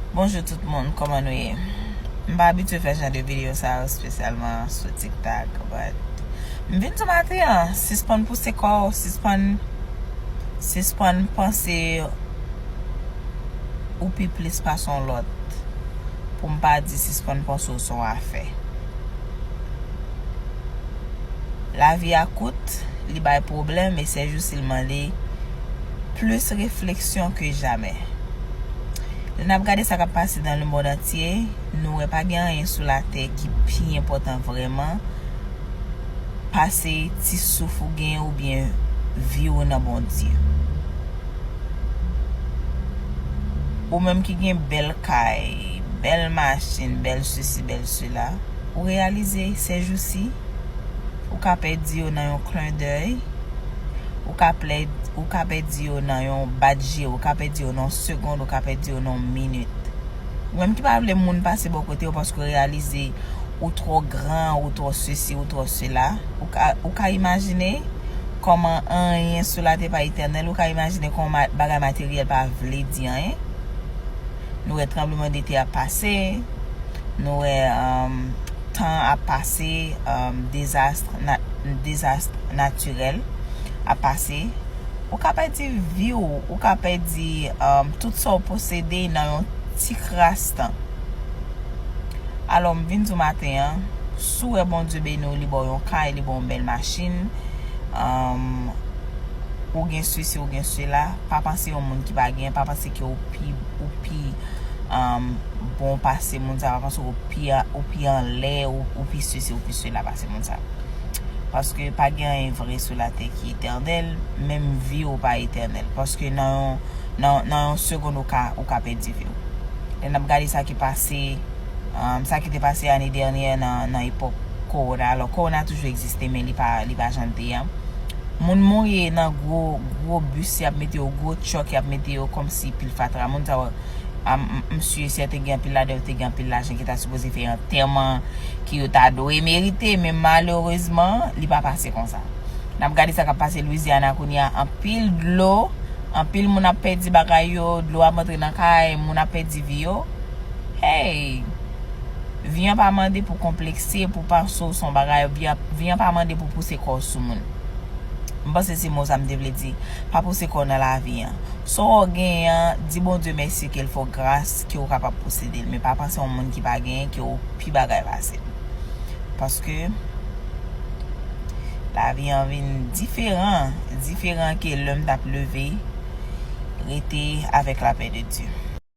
Bonjou tout moun kòman nou ye m pa abitye fè jan de video sa yo spesyalman sou tiktak but m vin sou maten an sispann pouse kò w sispann sispann panse ou pi plis pase yon lòt pou m pa di sispann panse w se yon afè lavi a kout li bay pwoblèm e sèjousi l mande Plis refleksyon ke jamè. Lè n ap gade sa k ap pase nan lemond antye, nou wè pa gen anyen sou latè ki pi enpòtan vrèman pase ti souf ou gen oubyen vi ou nan Bondye. Ou menm ki gen bèl kay, bèl machin, bèl sesi, bèl sela, ou reyalize sèjousi? Ou ka pèdi yo nan yon klen dèy, ou ka plèd, ou ka pèdi yo nan yon bat je, ou ka pèdi yo nan yon segond, ou ka pèdi yo nan yon minit. Ou menm ki pa vle moun pase bò kote w paske w reyalize ou twò gran, ou twò sesi, ou twò sela, ou ka, ou ka imajine kòman anyen sou latè pa etènèl, ou ka imajine kòman bagay materyèl pa vle di anyen. Nou wè tranbleman de tè ap pase, nou wè tan ap pase, dezast natirèl ap pase. Ou ka pèdi vi w, ou ka pèdi tout sa w posede nan yon ti kras tan. Alò m vin di w maten an, si w wè Bondye beni w, li ba w yon kay, li ba w yon bèl machin, ou gen sesi, ou gen sela, pa panse yon moun ki pa gen, pa panse. ke ou pi ou pi bon pase moun sa yo paske ou pi ou pi anlè ou pi sesi ou pi sela pase moun sa yo paske pa gen anyen vre sou latè ki etènèl menm vi ou pa etènèl paske nan yon nan yon segond ou ka ou ka pèdi vi ou lè nap gade sa ki pase sa ki te pase ane dènyè nan epòk kowona alò kowona toujou egziste. te men li pa li pa janl te ya moun mouri nan gro gro bus yap mete yo gro truck yap mete yo komsi pil fatra moun sa yo m m su e sèten te gen anpil ladan yo te gen anpil lajan ki ta sipoze fè antèman ki yo ta dwe merite men malerezman li pa pase konsa nap gade sa kap pase Louisiana kounya anpil dlo anpil moun ap pèdi bagay yo dlo ap antre nan kay moun ap pèdi vi yo hey. Vi an pa mande pou konplekse, pou panse w se yon bagay. Vi an pa mande pou pouse kò w sou moun. M panse se mo sa m te vle di. Pa pouse kò w nan lavi an. Sa w genyen an, di Bondye mèsi ke l fè w gras ke w kapab posede l. Men pa panse yon moun ki pa genyen ke w pi bagay pase l. Paske, lavi an vin diferan. Diferan ke lè m t ap leve, rete avèk lapè de Dye.